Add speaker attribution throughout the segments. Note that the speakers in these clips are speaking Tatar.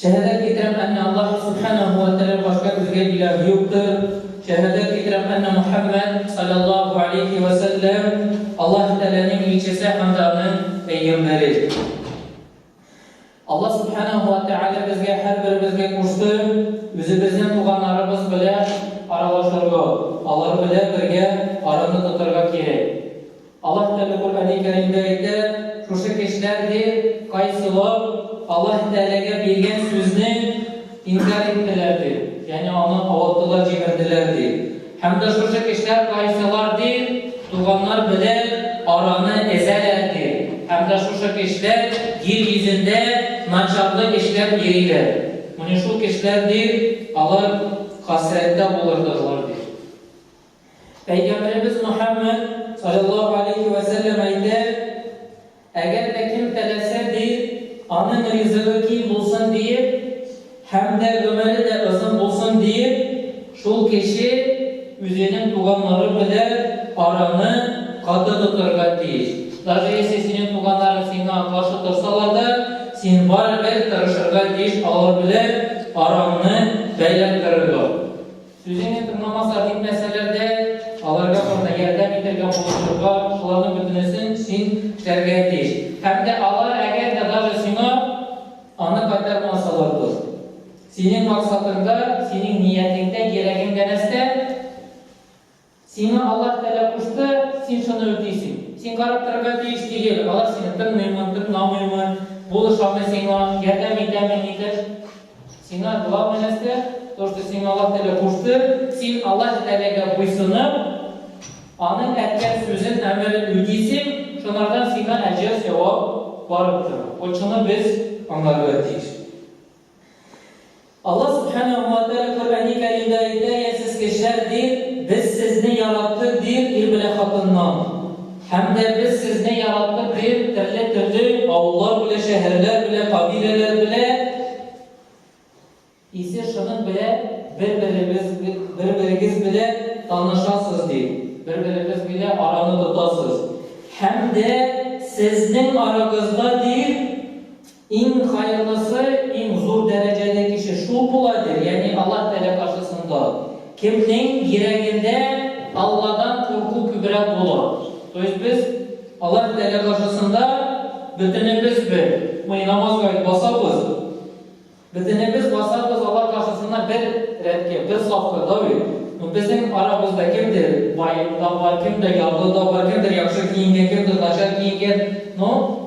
Speaker 1: Шәһәдәт китерәм әннә Аллаһ Сүбхәнәһү вә тәгалә башка безгә илаһ юктыр, шәһәдәт китерәм әннә Мөхәммәд салләллаһу алейһи вә сәлләм Аллаһ тәгаләнең илчесе һәм дә аның пәйгамбәре. Аллаһ Сүбхәнәһү вә тәгалә безгә һәрберебезгә кушты, үзебезнең туганнарыбыз белән аралашырга, алар белән бергә араны тотарга кирәк. Аллаһ Тәгалә Коръәни Кәримдә әйтә, Шушы кешеләр, ди, кайсылар Аллаһ Тәгаләгә биргән сүзне инкарь иттеләр, ди, ягъни аны авырттылар, җимерделәр, ди, һәм дә шушы кешеләр кайсылар, ди, туганнар белән араны өзәләр, ди, һәм дә шушы кешеләр җир йөзендә начарлык эшләп йөриләр, менә шул кешеләр, ди, алар хәсрәттә булырдырлар, ди. Пәйгамбәребез Мөхәммәд, салләллаһу алейһи вә сәлләм, әйтә, Әгәр дә кем теләсә, ди, аның ризыгы киң булсын диеп һәм дә гомере дә озын булсын диеп, шул кеше үзенең туганнары белән араны каты тотарга тиеш. Даже если синең туганнарың сиңа каршы торсалар да, син барыбер тырышырга тиеш алар белән араңны бәйләп торырга. Сүзеңне тыңламаса димәсәләр дә, аларга турыда ярдәм итәргә булышырга планы бөтенесен син эшләргә тиеш. Һәм дә алар әгәр дә даже сиңа аны кайтармасалар дус. Синең максатыңда, синең ниятеңдә, кирәгеңдә нәрсә? Сиңа Аллаһ Тәгалә кушты, син шуны үтисең. Син карап торырга тиеш түгел, алар сине тыңлыймы, тыңламыймы, булышамы сиңа, ярдәм итәме, нитәш. Сиңа главный нәрсә, то, что сиңа Аллаһ Тәгалә кушты, син Аллаһ Тәгаләгә буйсынып, аның әйткән сүзен, әмерен үтисең, шунардан сиңа әҗер, сәвап барып тора. Вот шуны без аңларга тиеш. Алла Субханәһу вә Тәгалә Коръәни Кәримдә әйтә, Йә сез кешеләр, ди, без сезне яраттык, ди, ир белән хатыннан. Һәм дә без сезне яраттык, ди, төрле төрле авыллар белән, шәһәрләр белән, кабиләләр белән. Исе шуның белән бер-берегез, бер-берегез белән танышасыз, ди, бер-берегез белән араны тотасыз. Һәм дә сезнең арагызда, ди, Иң хайырлысы, иң зур дәрәҗәле кеше шул була, ди, ягъни Аллаһ Тәгалә каршысында кемнең йөрәгендә Алладан курку күбрәк була. То есть без Аллаһ Тәгалә каршысында бөтенебез бер, мы и намазга ведь басабыз, бөтенебез басабыз Аллаһ каршысына бер рәткә, бер сафка, да бит? Ну безнең арабызда кемдер бай да бар, кемдер ярлы да бар, кемдер яхшы киенгән, кемдер начар киенгән, ну,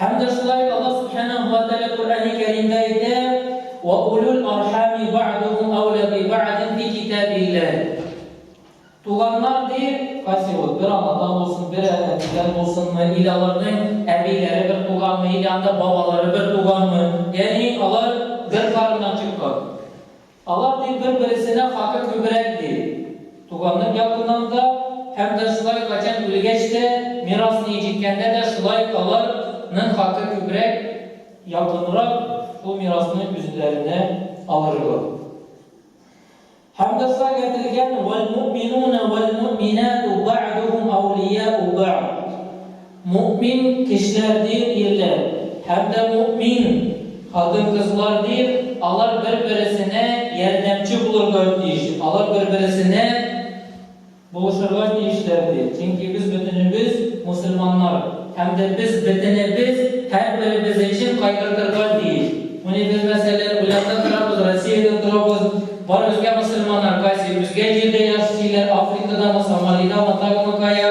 Speaker 1: Һәм дә шулай Аллаһ Сүбхәнәһү вә Тәгалә Коръәни Кәримдә әйтә, Вә улул архами бәгъдүһүм әүлә би бәгъдин фи китабилләһи. Туганнар, ди, кайсы ул, бер анадан булсын, бер әнәдән булсынмы, или аларның әбиләре бер туганмы, или анда бабалары бер туганмы, ягъни алар бер карыннан чыккан. Алар ди бер-бересенә хакы күбрәк ди. Туганның ягыннан да һәм дә шулай качан үлгәч тә мирас ни җиткәндә дә шулай алар ның хакы күбрәк, якынрак шул мирасны үзләренә алырлык. Һәм дә шулай әйтелгән, Вәлмүминуна вәлмүминату бәгъдүһүм әүлияу бәгъд. Мөэмин кешеләр дир ирләр һәм дә мөэмин хатын-кызлар дир, алар бер-бересенә ярдәмче булырга тиеш, алар бер-бересенә булышырга тиешләр дир, чөнки без бөтенебез мөселманнар һәм дә без бөтенебез һәрберебез өчен кайгыртырга тиеш. Менә без, мәсәлән, Уйланда торабыз, Россиядә торабыз, бар безгә мөселманнар кайсы, безгә җирдә яши, диләр, Африкадамы, Сомалидамы, тагымы кая,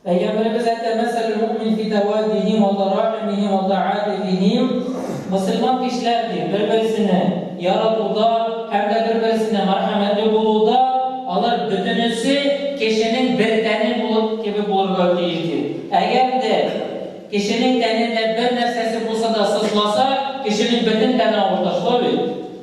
Speaker 1: Пәйгамбәребез әйтә, Мәсәлүл муъмин фи тәваддиһи ва тарахимиһи ва тәаатифиһи, мөселман кешеләр, ди, бер-берсене яратуда һәм дә бер-берсенә мәрхәмәтле булуда алар бөтенесе кешенең бер тәне булып кебек булырга тиеш, ди. Әгәр дә кешенең тәнендә бер нәрсәсе булса да сызласа, кешенең бөтен тәне авырта, шулай бит?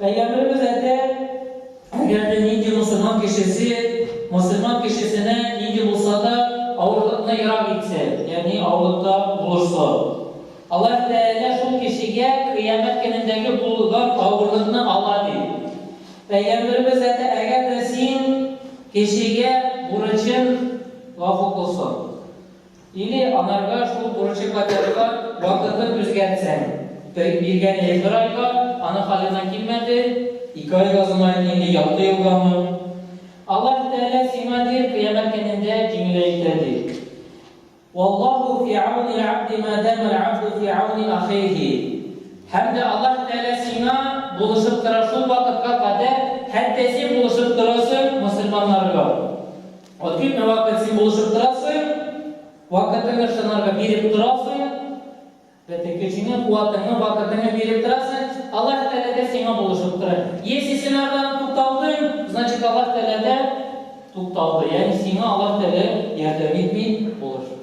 Speaker 1: Пәйгамбәребез әйтә, Әгәр дә нинди мөселман кешесе мөселман кешесенә нинди булса да авырлыкны ерак итсә, ягъни авырлыкта булышса, Аллаһ Тәгалә шул кешегә Кыямәт көнендәге булган авырлыкны ала, ди. Пәйгамбәребез әйтә, Әгәр дә син кешегә бурычын гафу кылсаң. Или анарга шул бурычы кайтарырга вакытын үзгәртсәң, тый биргән или бер айга, аның халына килмәде, ике айга зомаен или ялты елгамы? Аллаһ Тәгалә сиңа дир кыямәт көнендә җиңеле итә ди. Валлаһу фи ауни аль-абди ма дама аль-абду фи ауни ахиһи. Һәм дә Аллаһ Тәгалә сиңа булышып тора шул вакытка кадәр, хәтта син булышып торасың мөселманнарга. Ответ на вакыт син булышып торасың, вакытыңны шынарга биреп торасың, бөтен көчеңне, куатыңны, вакытыңны биреп торасың, Аллаһ Тәгалә дә сиңа булышып тора. Если син ардан тукталдың, значит Аллаһ Тәгалә дә тукталды, ягъни сиңа Аллаһ Тәгалә ярдәм итми, булышмый.